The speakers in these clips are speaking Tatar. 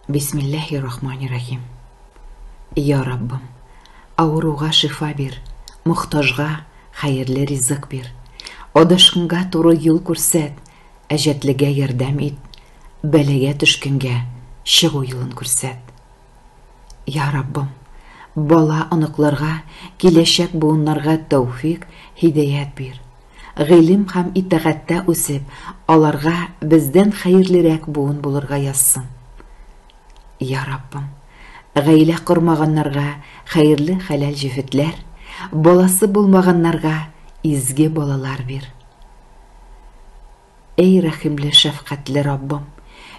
Бисмилләһи рахмани рахим. Я Раббым, авыруга шифа бир, мохтажга хәерле ризык бир. Адашкынга туры юл күрсәт, әҗәтлегә ярдәм ит, бәлагә төшкәнгә чыгу юлын күрсәт. Я Раббым, бала оныкларга, киләчәк буыннарга тәүфик, һидәят бир. Гыйлем һәм итагатьтә үсеп, аларга бездән хәерлерәк буын булырга язсын. Я Раббым, гаилә кормаганнарга хәерле хәләл җефетләр, баласы булмаганнарга изге балалар бир. Эй рәхимле, шәфкатьле Раббым!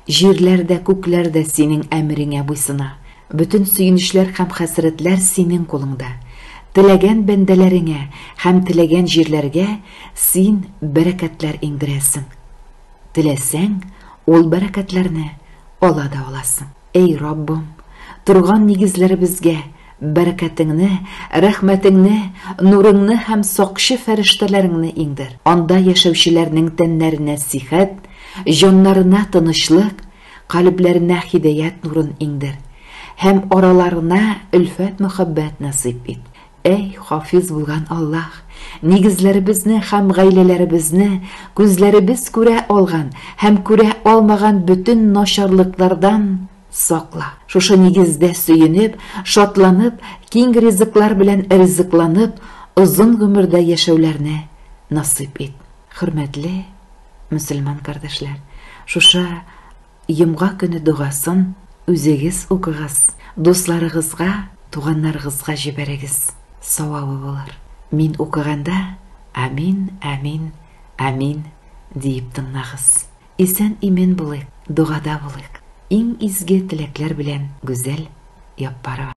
Җирләр дә, күкләр дә Синең әмереңә буйсына. Бөтен сөенечләр һәм хәсрәтләр Синең кулыңда. Теләгән бәндәләреңә һәм теләгән җирләргә Син бәрәкәтләр иңдерәсең. Теләсәң, ул бәрәкәтләрне ала да аласың. Эй Раббым, торган нигезләребезгә Бәрәкәтеңне, рәхмәтеңне, нурыңны һәм сакчы фәрештәләреңне иңдер. Анда яшәүчеләрнең тәннәренә сихәт, җаннарына тынычлык, калебләренә һидаять нурын иңдер һәм араларына өлфәт-мәхәббәт насыйп ит. Әй, Хафиз булган Аллаһ, нигезләребезне һәм гаиләләребезне, күзләребез күрә алган һәм күрә алмаган бөтен начарлыклардан Сакла. Шушы нигездә сөенеп, шатланып, киң ризыклар белән ризыкланып, озын гомердә яшәүләрне насыйп ит. Хөрмәтле мөселман кардәшләр, шушы йомга көне догасын үзегез укыгыз, дусларыгызга, туганнарыгызга җибәрегез, савабы булыр. Мин укыганда, Амин, амин, амин диеп тыңлагыз. Исән-имен булыйк, догада булыйк. Иң изге теләкләр белән Гүзәл Яппарова.